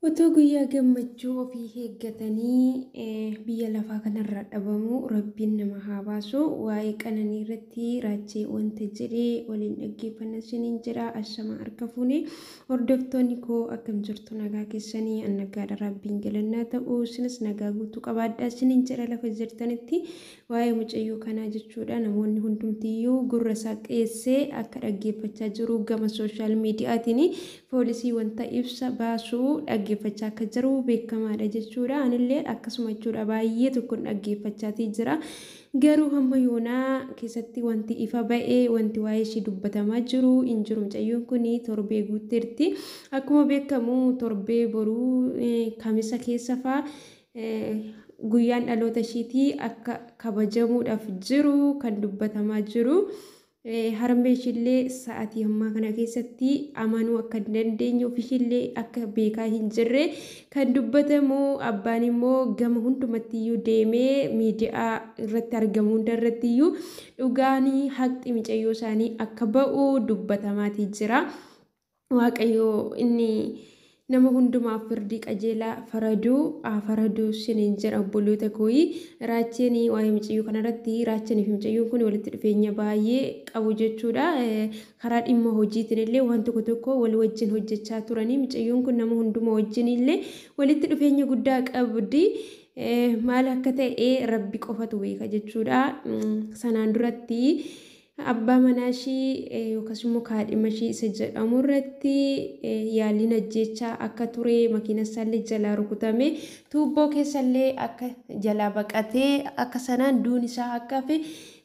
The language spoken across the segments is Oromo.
Otoo guyyaa gammachuu ofii eeggatanii biyya lafaa kanarraa dhabamuu rabbiin nama haa baasu. Waa'ee qananii irratti raachee wanta jedhee waliin dhaggeeffanna isiniin jedha. Ashamaa harka fuune hordoftoonni koo akkam jirtu nagaa keessanii annagaadha rabbiin galannaa ta'u isinis nagaa guutuu qabaadha isiniin jedha lafa jirtanitti Waa'ee mucayyoo kanaa jechuudha namoonni hundumtiyyuu gurra isaa qeessee akka dhaggeeffachaa jiru gama sooshaal miidiyaatiin poolisii wanta ibsa baasu dhaggeeffachaa akka jiru beekamaadha jechuudha. Anillee akkasuma jechuudha baay'ee tokkon dhaggeeffachaatii jira. Garuu hamma yoonaa keessatti wanti ifa ba'e wanti waa'ee ishii dubbatamaa jiru hin jiru mucayyoon kun torbee guutteerti. Akkuma beekamu torbee boruu kamisa keessa faa guyyaan dhaloota ishiitii akka kabajamuudhaaf jiru kan dubbatamaa jiru. Harmee ishiillee sa'atii ammaa kana keessatti amanuu akka hin dandeenye ofishiillee akka beekaa hin jirre kan dubbatamu abbaan immoo gama hundumattiyyuu deemee miidiyaa irratti argamu hunda irrattiyyuu dhugaanii haqxi micayyoo isaanii akka ba'u dubbatamaatii jira. Waaqayyo inni nama hundumaaf firdii qajeelaa faraduu haa faraduu siniin jedha obboloota kooyi raacheen waa'ee mucayyoo kanarratti raachanii fi mucayyoon kun walitti dhufeenya baay'ee qabu jechuudha karaa dhimma hojiitiin illee waan tokko tokko wal wajjin hojjechaa turanii mucayyoon kun nama hunduma wajjin illee walitti dhufeenya guddaa qabdi maal akka ta'e rabbi qofatu beeka jechuudha sanaan duratti Abbaa manaa ishii yookaas immoo kaadhima ishii isa jedhamu irratti yaaliin ajjeechaa akka ture makiina isaallee jalaa rukutame tuubboo keessallee akka jalaa baqatee akka sanaan duun isaa akka hafe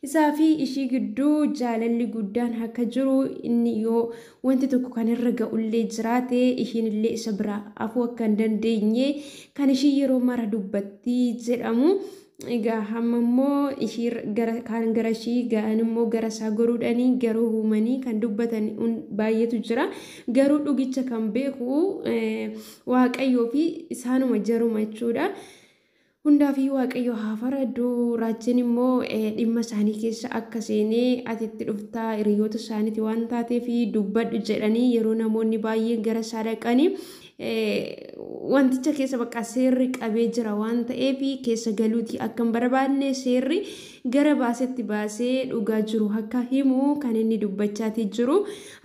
isaa fi ishii gidduu jaalalli guddaan akka jiru inni yoo wanti tokko kan irra ga'ullee jiraate ishiin illee isa biraa afuu akka hin dandeenye kan ishii yeroo mara dubbatti jedhamu Egaa hamma immoo ishii gara kaan gara ishii ga'an immoo gara isaa goruudhanii garuu uumanii kan dubbatan baay'eetu jira. Garuu dhugicha kan beeku waaqayyoo fi isaanuma jaruma jechuudha. Hundaafii waaqayyo haa faradu raajiin immoo dhimma isaanii keessa akka seenee ati itti dhuftaa hiriyoota isaaniiti waan taateef dubbadhu jedhanii yeroo namoonni baay'een gara isaa dhaqanii wanticha keessa bakka seerri qabee jira waan ta'eef keessa galuuti akka hin barbaadne seerri gara baasetti baasee dhugaa jiru akka himu kan inni dubbachaatii jiru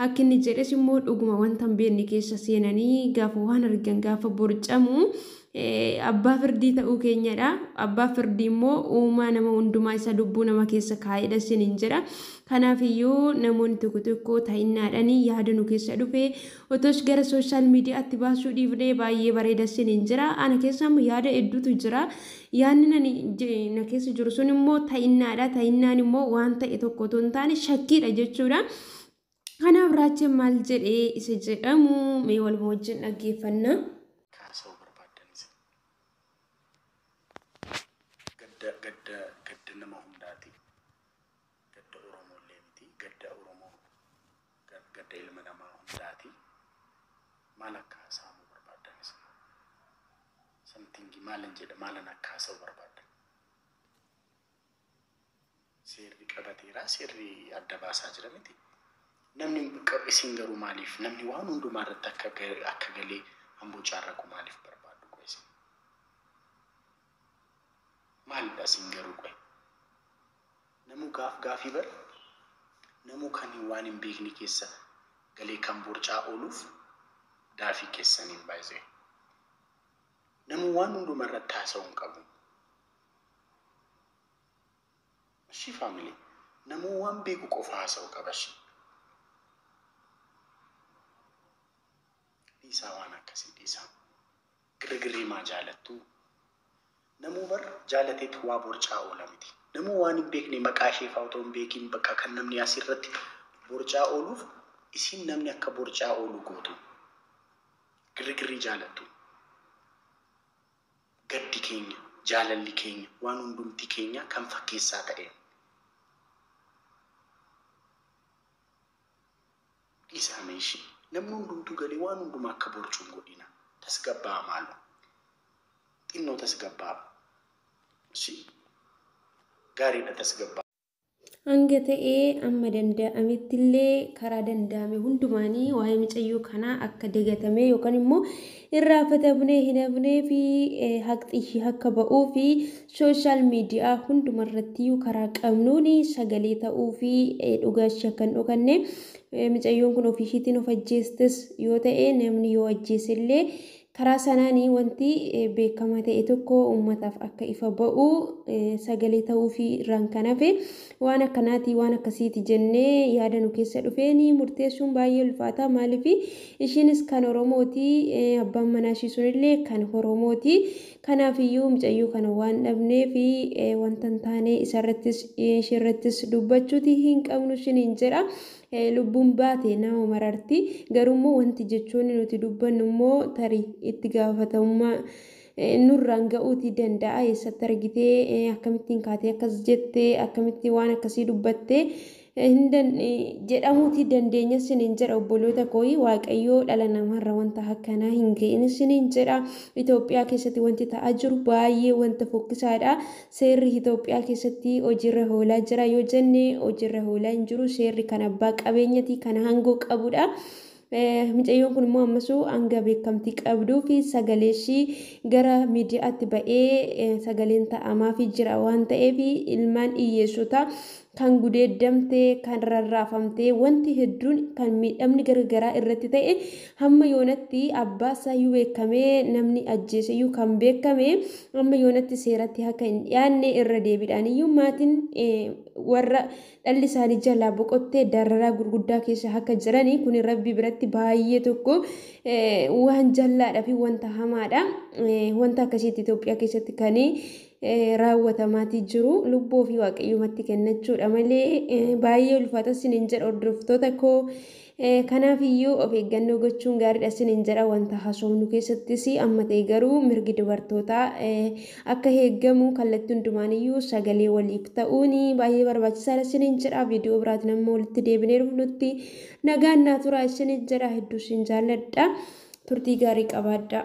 akka inni jedhes immoo dhuguma wanta hin beekne keessa seenanii gaafa waan argan gaafa borcamu abbaa firdii ta'uu keenyadha abbaa firdii immoo uumaa nama hundumaa isa lubbuu nama keessa kaa'edha siniin jedha kanaaf iyyuu namoonni tokko tokko ta'innaadhaan yaada nu keessa dhufe Otosh gara social media atti baasuu dhiifnee baay'ee bareeda sinin jira ana keessa immoo yaada hedduutu jira yaanni nani na keessa jiru sun immoo ta'innaadha ta'innaan immoo waan ta'e tokko otoo hin taane shakkiidha jechuudha kanaaf raacheen maal jedhee isa jedhamu mee waluma wajjin dhaggeeffanna. kaasa'uu barbaaddanis gadda gadda gadda nama hundaati. Gadda Oromoollee miti. Gadda Oromoo gadda ilma namaa hundaati. Maal akka hasaamuu barbaaddan isin hoo? Something maalan jedha maalan akka hasa'u barbaaddan? Seerri qabateera seerri adda baasaa jira miti. Namni isin garuu maaliif namni waan hundumaa irratti akka akka galee hamboo caarraqu maaliif barbaaddu qoy isin? Maalidha isin garuu qoy? Namuu gaaf gaafii bar namuu kan waan hin beekne keessa galee kan borcaa ooluuf daafii keessaniin by the way. Namuu waan hunduma irratti haasa'uu hin qabu. Ashii family namuu waan beeku qofa haasa'uu qaba ashii. Dhiisaa waan akkasii dhiisaa. Girrigirrii maa jaalattuu? Namuu bar jaalateet waa borcaa oola miti. Namuu waan hin beekne maqaa ishee faa otoo hin beekiin bakka kan namni asi irratti borcaa ooluuf isiin namni akka borcaa oolu gootuu. Girrigirrii jaalattuu? Gaddi keenya, jaalalli keenya, waan hundumti keenyaa kan fakkeessaa ta'een. Dhisaa mee ishii. Namni hundumtuu galee waan hundumaa akka boorcu hin godhiina. Tasgabbaa'a maaloo. Xinnoo tasgabbaa'a. Ishii. Gaariidha tasgabbaa'a. Hanga ta'e amma danda'amettillee karaa danda'ame hundumaanii waa'ee micayyoo kanaa akka dagatamee yookaan immoo Irraafatamnee hin hafnee fi haqxi akka ba'uu fi sooshaal miidiyaa hunduma irrattiyyuu karaa qabnuun sagalee ta'uu fi dhugaa ishii akka hin dhokanne micayyoon kun ofii ishiitiin of ajjeestes yoo ta'e namni yoo ajjeese illee karaa sanaanii wanti beekamaa ta'e tokko uummataaf akka ifa ba'u sagalee ta'uu fi irraan kan hafe Waan akkanaati, waan akkasiiti jennee yaada nu keessa dhufeen murteessuun baay'ee ulfaata. Maaliif ishiinis kan Oromooti, abbaan manaa ishii sunillee kan Oromooti. Kanaafiyyuu mucayyoo kana waan dhabneef wanta hin taane isarrattis ishiirrattis dubbachuuti hin qabnu ishiin jedha. Lubbuun baate nama mararti. Garuu immoo wanti jechoonni nuti dubbannu immoo tarii itti gaafatamummaa nurraan ga'uutii danda'a eessatti argitee eh, akkamittiin kaatee akkas jette akkamitti waan akkasii dubbatte eh, hin dan- eh, jedhamuutii dandeenya siniin jedha obboloota kooyi waaqayyoo dhala namaarra wanta akkanaa hin ga'in siniin jedha Itoophiyaa keessatti wanti ta'aa jiru baay'ee wanta fokkisaadha seerri Itoophiyaa keessatti hojiirra hoolaa jira yoo jenne hojiirra hoolaa hin jiru seerri kan abbaa qabeenyati kan aangoo qabudha. Micayyoon kun immoo ammasuu hanga beekamtii qabduu fi sagalee ishii gara miidiyaatti ba'ee sagaleen ta'amaa fi jira waan ta'eef ilmaan hiyyeessotaa kan gudeeddamtee kan rarraafamtee wanti hedduun kan miidhamni garagaraa irratti ta'e hamma yoonatti abbaa isaayyuu beekamee namni ajjeeseyyuu kan beekame amma yoonatti seeratti akka hin dhiyaanne irra deebiidhaan iyyuu maatiin warra dhalli isaanii jalaa boqottee dararaa gurguddaa keessa akka jiranii kuni rabbii biratti baay'ee tokko waan jallaadha fi wanta hamaadha wanta akkasiitti Itoophiyaa keessatti kan raawwatamaatii jiru lubbuu ofii waaqayyoomatti kennachuudha malee baay'ee ulfaata sinin jedha hordoftoota koo Kanaaf iyyuu of eeggannoo gochuun gaariidha isiniin jedha. Wanta haasofnu keessattis amma ta'e garuu mirgi dubartootaa akka eegamu kallattii hundumaan iyyuu sagalee waliif ta'uun baay'ee barbaachisaadha isiniin jedha. Viidiyoo biraatiin amma walitti deebinee dhufnutti nagaan naa turaa isiniin jedha. Hedduu isin jaalladha. Turtii gaarii qabaadhaa.